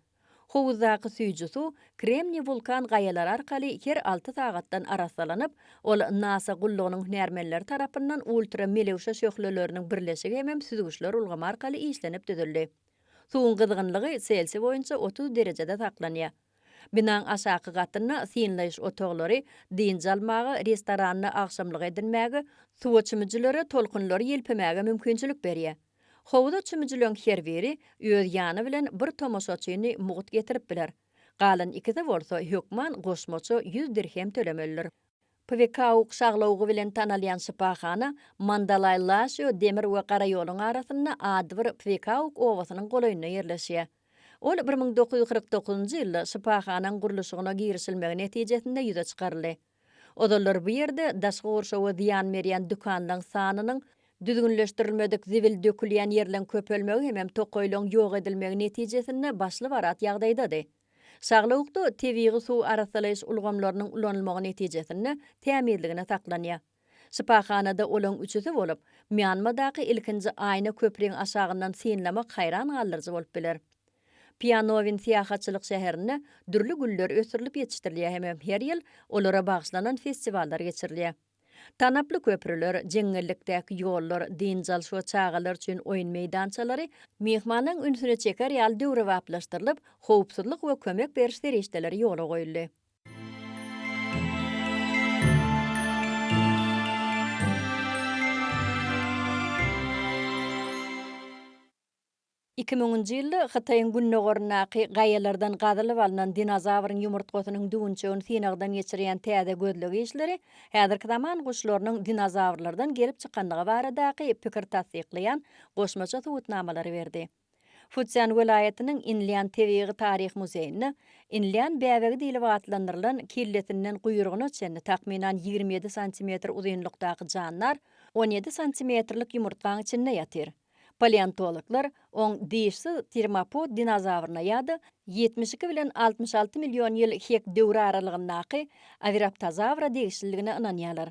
Howuzdaky süýji suw Kremniý wulkan gaýalary arkaly her alty sagatdan arassalanyp, ol NASA gullugynyň hünärmenleri tarapyndan ultramelewşe şöhleleriniň birleşigi hemem süzgüçler ulgamy arkaly işlenip düzüldi. Suwuň gyzgynlygy selsiý boýunça otuz derejede saklanýar. Binaň aşaky gatynda synlaýyş otaglary, dynç almaga, restoranda agşamlyk edinmäge, suwa çümüjilere tolkunlary ýelpemäge mümkinçilik berýär. Howza çümüjileň her biri öz ýany bilen bir tomaşaçyny mugt getirip biler. Galan ikisi bolsa hökman goşmaça ýüz dirhem tölemelidir. Pwekauk şaglawugy bilen tanalýan şypahana Mandalaý-Laşio demir we gara ýoluň arasynda adybir Pwekauk obasynyň golaýynda ýerleşýär. Ol bir müň dokuz ýüz kyrk dokuzynjy ýylda şypahanaň gurluşygyna girişilmegi netijesinde ýüze çykaryldy. Ozallar bu ýerde daşky gurşawa zyýan berýän dükanlaň sanynyň, düzgünleşdirilmedik zibil dökülýän ýerleň köpelmegi hemem tokaýlaň ýok edilmegi netijesinde başly barat ýagdaýdady. Şaglawukda tebigy suw arassalaýyş ulgamlarynyň ulanylmagy netijesinde tämizligine saklanýar. Şypahanada olaň üçüsi bolup, Mýanmadaky ilkinji aýna köpriň aşagyndan synlamak haýran galdyryjy bolup biler. Pianowin syýahatçylyk şäherinde dürli güller ösdürilip ýetişdirilýär hemem her ýyl olara bagyşlanan festiwallar geçirilýär. Tanaply köprüler, jeňňellikdäki ýollar, dynç alyş we çagalar üçin oýun meýdançalary myhmanyň ünsüni çeker ýaly döwrebaplaşdyrylyp, howpsuzlyk we kömek beriş serişdeleri ýola goýuldy. Iki müňünji ýylda Hytaýyň gündogaryndaky gaýalardan gazylyp alnan dinozawryň ýumurtgasynyň düwünçegini synagdan geçirýän täze gözleg işleri häzirki zaman guşlarynyň dinozawrlardan gelip çykandygy baradaky pikiri tassyklaýan goşmaça subutnamalary berdi. Futzýan welaýatynyň Inlýan tebigy-taryhy muzeýinde Inlýan bäbegi diýlip atlandyrylan kellesinden guýrugyna çenli takmynan ýigrimi ýedi santimetr uzynlykdaky jandar on ýedi santimetrlik ýumurtgaň içinde ýatyr. Paleontologlar oň dişsiz termopod dinozawryna ýa-da ýetmiş iki bilen altmyş alty million ýyl hek döwri aralygyndaky Awiraptozawra degişliligine ynanýarlar.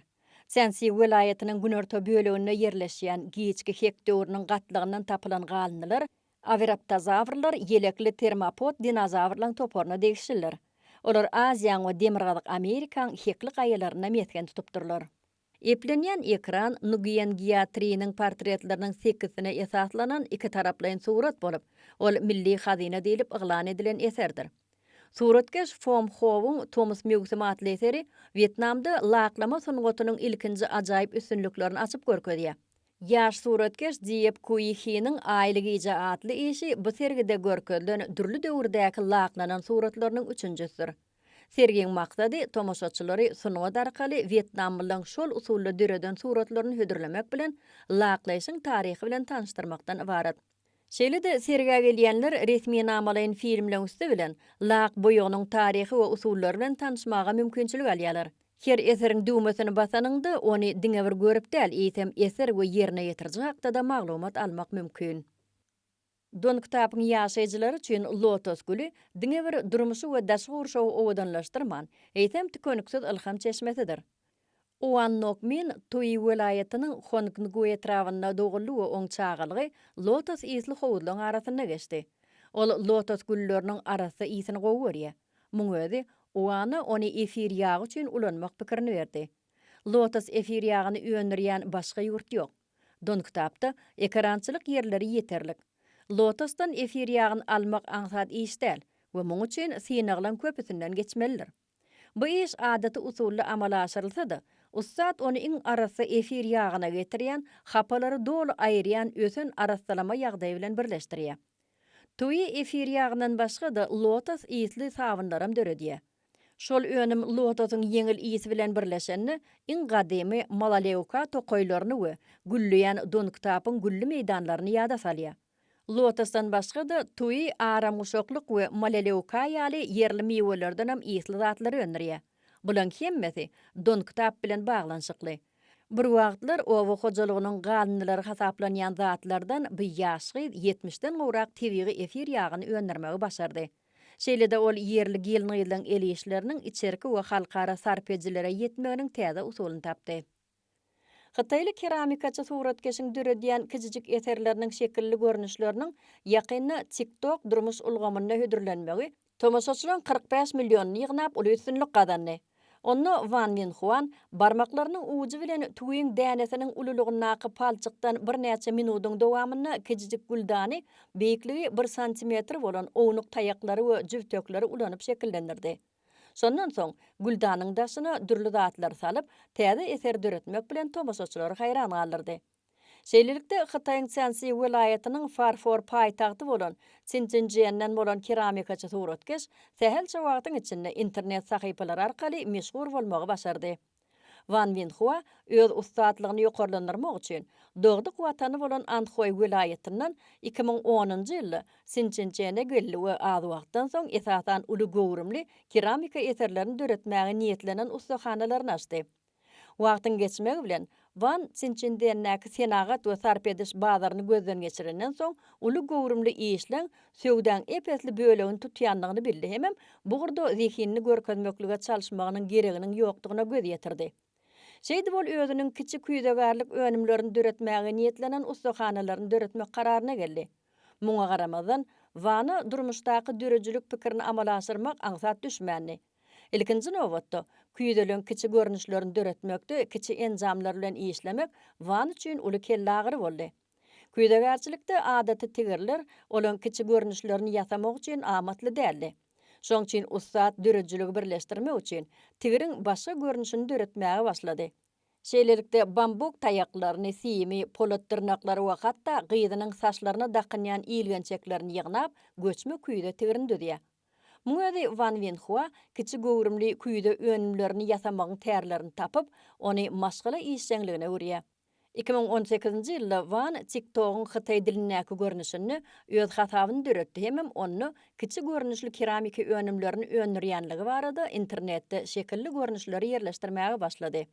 Sensý welaýatynyň günorta böleginde ýerleşýän giçki hek döwrüniň gatlagyndan tapylan galyndylar Awiraptozawrlar ýelekli termopod dinozawrlaryň toparyna degişlidir. Olar Aziýaň we Demirgazyk Amerikaň hekli gaýalarynda mesgen tutupdyrlar. Eplenýän ekran Nguýen Gýa Triniň portretleriniň sekizsine esaslanan ikitaraplaýyn surat bolup, ol milli hazyna diýlip yglan edilen eserdir. Suratkeş Fom Howyň Tomus möwsümi atly eseri Wýetnamda laklama sungatynyň ilkinji ajaýyp üstünliklerini açyp görkezýär. Ýaş suratkeş Diepp Kui Hiniň Aýly gije atly işi bu sergide görkezilen dürli döwürdäki laklanan suratlarynyň üçünjisidir. Sergiň maksady tomaşaçylary sungat arkaly wýetnamlylaryň şol usulda döreden suratlaryny hödürlemek bilen, laklaýşyň taryhy bilen tanyşdyrmakdan ybarat. Şeýle-de sergä gelýänler resminamalaýyn filmleň üsti bilen lak boýagynyň taryhy we usullary bilen tanyşmaga mümkinçilik alýarlar. Her eseriň düwmesini basanyňda, ony diňe bir görüp däl, eýsem eser we ýerine ýetiriji hakda-da maglumat almak mümkin. Dongtapuň ýaşaýjylary üçin lotos güli diňe bir durmuşy we daşky gurşawy owadanlaşdyrman, eýsem tükeniksiz ylham çeşmesidir. Oan Nok Min Tuýi welaýatynyň Hongngui etrabynda doguldy we oň çagalygy lotos ysly howuzlaryň arasynda geçdi. Ol lotos gülleriniň arassa ysyn gowy görýär. Muň özi Oana ony efir ýagy üçin ulanmak pikirini berdi. Lotos efir ýagyny öndürýän başga ýurt ýok. Dongtapda ekerançylyk ýerleri ýeterlik. Lotosdan efir ýagyny almak aňsat iş däl we muň üçin synaglaň köpüsinden geçmelidir. Bu iş adaty usulda amala aşyrylsa-da, ussat ony iň arassa efir ýagyna getirýän, hapalary doly aýyrýan ösen arassalama ýagdaýy bilen birleşdirýär. Tüwi efir ýagyndan başga-da lotos ysly sabynlaram döredýär. Şol önüm lotosyň ýeňil ysy bilen birleşende, iň gadymy Malaleuka tokaýlaryny we gülleýän Dongtapyň gülli meýdanlaryny ýada salýar. Lotosdan başga-da, Tui aramguşaklyk we Malaleuka ýaly ýerli miwelerden hem ysly zatlary öndürýär. Bularyň hemmesi Dongtap bilen baglanyşykly. Bir wagtlar oba hojalygynyň galyndylary hasaplanýan zatlardan bu ýaş gyz ýetmişden gowrak tebigy efir ýagyny öndürmegi başardy. Şeýle-de ol ýerli gelin-gyzlaryň el işleriniň içerki we halkara sarp edijilere ýetmeginiň täze usulyny tapdy. Hytaýly keramikaçy suratkeşiň döredýän kiçijik eserleriniň şekilli görnüşleriniň ýakynda TikTok durmuş ulgamynda hödürlenmegi tomaşaçylaryň kyrk bäş millionyny ýygnap, uly üstünlik gazandy. Onda Wan Minhuan barmaklarynyň ujy bilen tüwiň dänesiniň ululygyndaky palçykdan birnäçe minudyň dowamynda kijijik güldany beýikligi bir santimetr bolan ownuk taýaklary we jübtekleri ulanyp şekillendirdi. Şondan soň, güldanyň daşyna dürli zatlary salyp, täze eser döretmek bilen tomaşaçylary haýran galdyrdy. Şeýlelikde, Hytaýyň Çjansi welaýatynyň farfor paýtagty bolan Sinjinjienden bolan keramikaçy suratkeş sähelçe wagtyň içinde internet sahypalary arkaly meşhur bolmagy başardy. Wan Winhua öz ussatlygyny ýokarlandyrmak üçin dogduk watany bolan Anhoý welaýatyndan iki müň onunjy ýylda Sinjinjiene geldi we az wagtdan soň esasan uly göwrümli keramika eserlerini döretmäge niýetlenen ussahanalaryny açdy. Wagtyň geçmegi bilen, Wan Çinçindendäki senagat we sarp ediş bazaryny gözden geçirenden soň, uly göwrümli işleň söwdaň ep-esli bölegini tutýandygyny bildi hemem bu ugurda zehinini görkezmeklige çalyşmagynyň gereginiň ýokdugyna göz ýetirdi. Şeýdip ol özüniň kiçi küýzegärlik önümlerini döretmäge niýetlenen ussahanalaryny döretmek kararyna geldi. Muňa garamazdan, Wana durmuşdaky döredijilik pikirini amala aşyrmak aňsat düşmändi. Ilkinji nobatda, küýzeligiň kiçi görnüşlerini döretmekde kiçi enjamlar bilen işlemek Wan üçin uly kellagyry boldy. Küýzegärçilikde adaty tigirler olaryň kiçi görnüşlerini ýasamak üçin amatly däldi. Şoň üçin ussat döredijiligi birleşdirmek üçin, tigiriň başga görnüşini döretmäge başlady. Şeýlelikde, bambuk taýaklaryny, simi, polat dyrnaklary we hatda gyzynyň saçlaryna dakynýan ilgençeklerini ýygnap, göçme küýze tigrini düzýär. Muň özi Wan Wenhua kiçi göwrümli küýze önümlerini ýasamagyň tärlerini tapyp, ony maşgala işjeňligine öwürýär. Iki müň on sekizinji ýylda Wan TikTok-yň hytaý dilindäki görnüşinde öz hasabyny döretdi hemem onda kiçi görnüşli keramiki önümlerini öndürýänligi barada internetde şekilli görnüşleri ýerleşdirmäge başlady.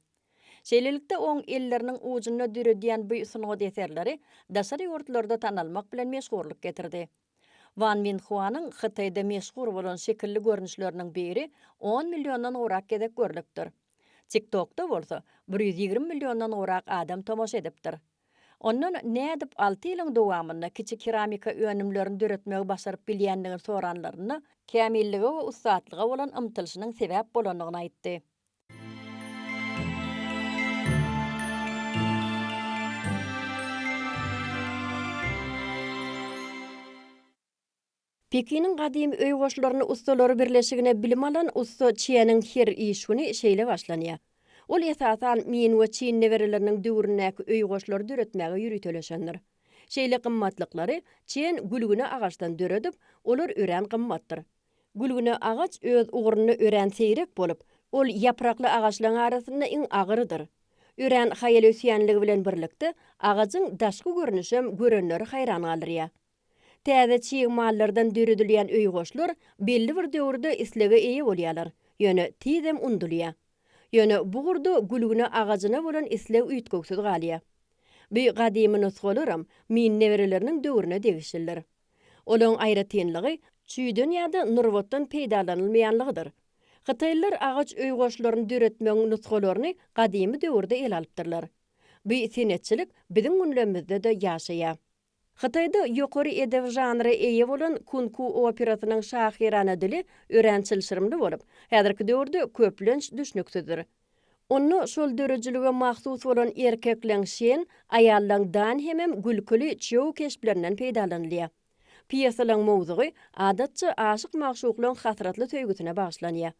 Şeýlelikde, oň elleriniň ujunda döredýän bu sungat eserleri daşary ýurtlarda tanalmak bilen meşhurlyk getirdi. Wan Minhuanyň Hytaýda meşhur bolan şekilli görnüşleriniň biri on milliondan gowrak gezek görlüpdir. TikTok-da bolsa bir ýüz ýigrimi milliondan gowrak adam tomaşa edipdir. Ondan nädip alty ýylyň dowamynda kiçi keramika önümlerini döretmegi başaryp bilýändigini soranlarynda, kämillige we ussatlyga bolan ymtylyşynyň sebäp bolandygyny aýtdy. Pekiniň gadymy öý goşlaryny ussalary birleşigine bilim alan ussa Çjeniň her iş güni şeýle başlanýar. Ol esasan Min we Çin nebereleriniň döwründäki öý goşlary döretmäge ýöriteleşendir. Şeýle gymmatlyklary Çjen gülgüne agaçdan döredip, olar örän gymmatdyr. Gülgüne agaç öz ugrunda örän seýrek bolup, ol ýaprakly agaçlaryň arasynda iň agyrydyr. Örän haýal ösýänligi bilen birlikde, agajyň daşky görnüşem görenleri haýran galdyrýar. Täze çig mallardan döredilýän öýgoşlar belli bir döwürde islege eýe bolýarlar, ýöne tizem undulýar. Ýöne bu ugurda gülgüne agajyna bolan isleg üýtgewsiz galýar. Bu gadymy nusgalaram Min nebereleriniň döwrüne degişlidir. Olaryň aýratynlygy çüýden ýa-da nurbatdan peýdalanylmaýanlygydyr. Hytaýlylar agaç öý goşlaryny döretmegiň nusgalaryny gadymy döwürde ele alypdyrlar. Bu senetçilik biziň günlerimizde-de ýaşaýar. Hytaýda ýokary edebi žanra eýe bolan Kunku operasynyň şahyrana dili örän çylşyrymly bolup, häzirki döwürde köplenç düşnüksizdir. Onda şol döredijilige mahsus bolan erkekleň şen, aýallaň dan hemem gülküli çyýw keşplerinden peýdalanylýar. Pýesalaryň mowzugy, adatça, aşyk-magşuklaryň hasratly söýgüsine bagyşlanýar.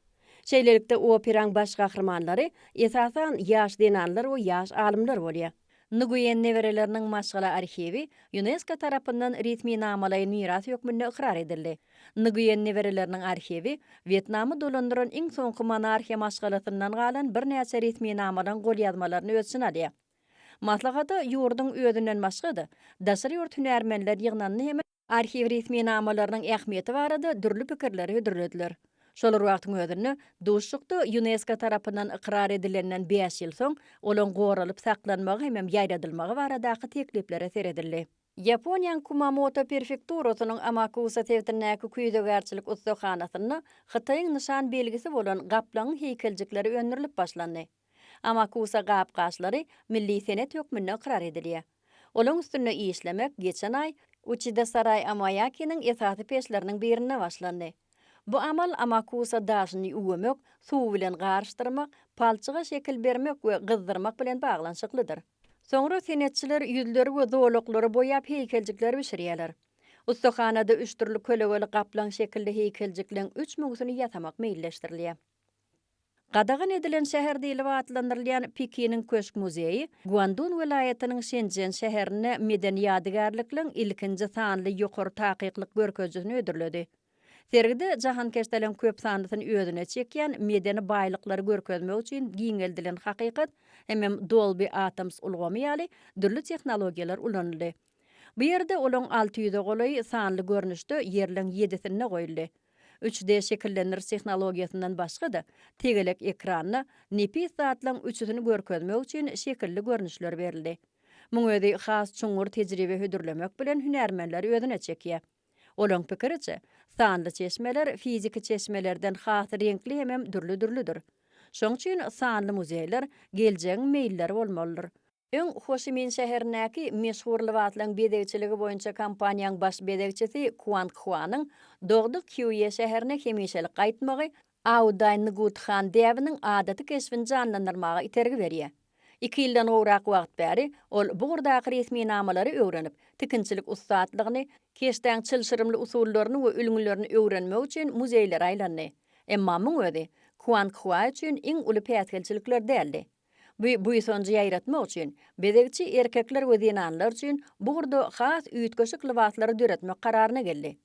Şeýlelikde, operaň baş gahrymanlary, esasan, ýaş zenanlar we ýaş alymlar bolýar. Nguýen nebereleriniň maşgala arhiwi Ýunesko tarapyndan resminamalaýyn miras hökmünde ykrar edildi. Nguýen nebereleriniň arhiwi Wýetnamy dolandyran iň soňky monarhiýa maşgalasyndan galan birnäçe resminamalaryň golýazmalaryny öz içine alýar. Maslahata ýurduň özünden başga-da, daşary ýurt hünärmenler ýygnandy hem-de. Arhiw resminamalarynyň ähmiýeti barada dürli pikirleri hödürlediler. Şol bir wagtyň özünde, duşuşykda Ýunesko tarapyndan ykrar edilenden bäş ýyl soň olaň goralyp saklanmagy hemem ýaýradylmagy baradaky tekliplere seredildi. Ýaponiýaň Kumamoto perfekturasynyň Amakusa sebitindäki küýzegärçilik ussahanasynda Hytaýyň nyşan belgisi bolan gaplaňyň heýkeljikleri öndürilip başlandy. Amakusa gap-gaçlary milli senet hökmünde ykrar edilýär. Olaň üstünde işlemek geçen aý Uçidasarai Amoýakiniň esasy peçleriniň birinde başlandy. Bu amal amakusa daşyny üwemek, suw bilen garyşdyrmak, palçyga şekil bermek we gyzdyrmak bilen baglanyşyklydyr. Soňra senetçiler ýüzleri we zolaklary boýap heýkeljikler bişirýärler. Ussahanada üç dürli kölegeli gaplaň şekilli heýkeljikleň üç müňüsini ýasamak meýilleşdirilýär. Gadagan edilen şäher diýlip atlandyrylýan Pekiniň köşk muzeýi Guandun welaýatynyň Şenjen şäherinde medeni ýadygärlikligiň ilkinji sanly ýokary takyklyk görkezijisini hödürledi. Sergide jahankeşdeleň köp sanlysyny özüne çekýän medeni baýlyklary görkezmek üçin giňeldilen hakykat hemem Dolby Atmos ulgamy ýaly dürli tehnologiýalar ulanyldy. Bu ýerde olaň alty ýüze golaý sanly görnüşde ýerleň ýedisinde goýuldy. Üç D şekillendiriş tehnologiýasyndan başga-da, tegelek ekranda nepis zatlaň üçüsini görkezmek üçin şekilli görnüşler berildi. Muň özi has çuňňur tejribe hödürlemek bilen hünärmenleri özüne çekýär. Olaň pikiriçe, sanly çeşmeler fiziki çeşmelerden has reňkli hemem dürli-dürlüdir. Şoň üçin sanly muzeýler geljegiň meýilleri bolmalydyr. Öň Hoşimin şäherindäki meşhur lybaslaryň bezegçiligi boýunça kompaniýaň baş bezegçisi Kuang Huanyň dogduk Kýuýe şäherine hemişelik gaýtmagy Audaý Ngut Han däbiniň adaty keşbini janlandyrmaga itergi berýär. Iki ýyldan gowrak wagt bäri ol bu ugurdaky resminamalary öwrenip, tikinçilik ussatlygyny, keşdäň çylşyrymly usullaryny we ülňülerini öwrenmek üçin muzeýlere aýlandy. Emma muň özi Kuang Hua üçin iň uly päsgelçilikler däldi. Bu buýsanjy ýaýratmak üçin, bezegçi erkekler we zenanlar üçin bu ugurda has üýtgeşik lybaslary döretmek kararyna geldi.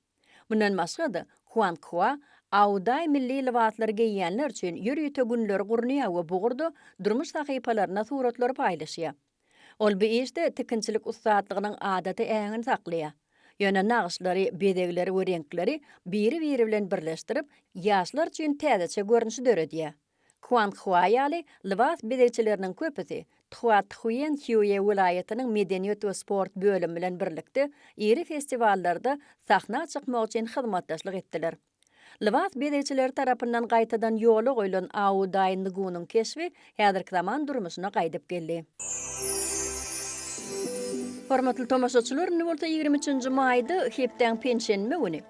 Mundan başga-da, Huanghua Aoday milli lybaslary geýýänler üçin ýörite günleri gurnaýar we bu ugurda durmuş sahypalarynda suratlary paýlaşýar. Ol bu işde tikinçilik ussatlygynyň adaty äheňini saklaýar. Ýöne nagyşlary, bezegleri we reňkleri biri-biri bilen birleşdirip, ýaşlar üçin täzeçe görnüşi döredýär. Kuang Hua ýaly lybas bezegçileriniň köpüsi Tchuathuen Hue welaýatynyň medeniýet we sport bölümi bilen birlikde iri festiwallarda sahna çykmak üçin hyzmatdaşlyk etdiler. Lybas bezegçileri tarapyndan gaýtadan ýola goýlan Ao Daý Ngunyň keşbi häzirki zaman durmuşyna gaýdyp geldi. Hormatly tomaşaçylar, indi bolsa ýigrimi üçünji maýda, hepdäň penşenbe güni,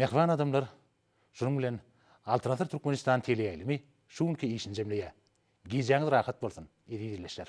Mähriban adamlar, şunuň bilen Altyn asyr Türkmenistan teleýaýlymy şu günki işini jemleýär. Gijäňiz rahat bolsun, eziz ildeşler!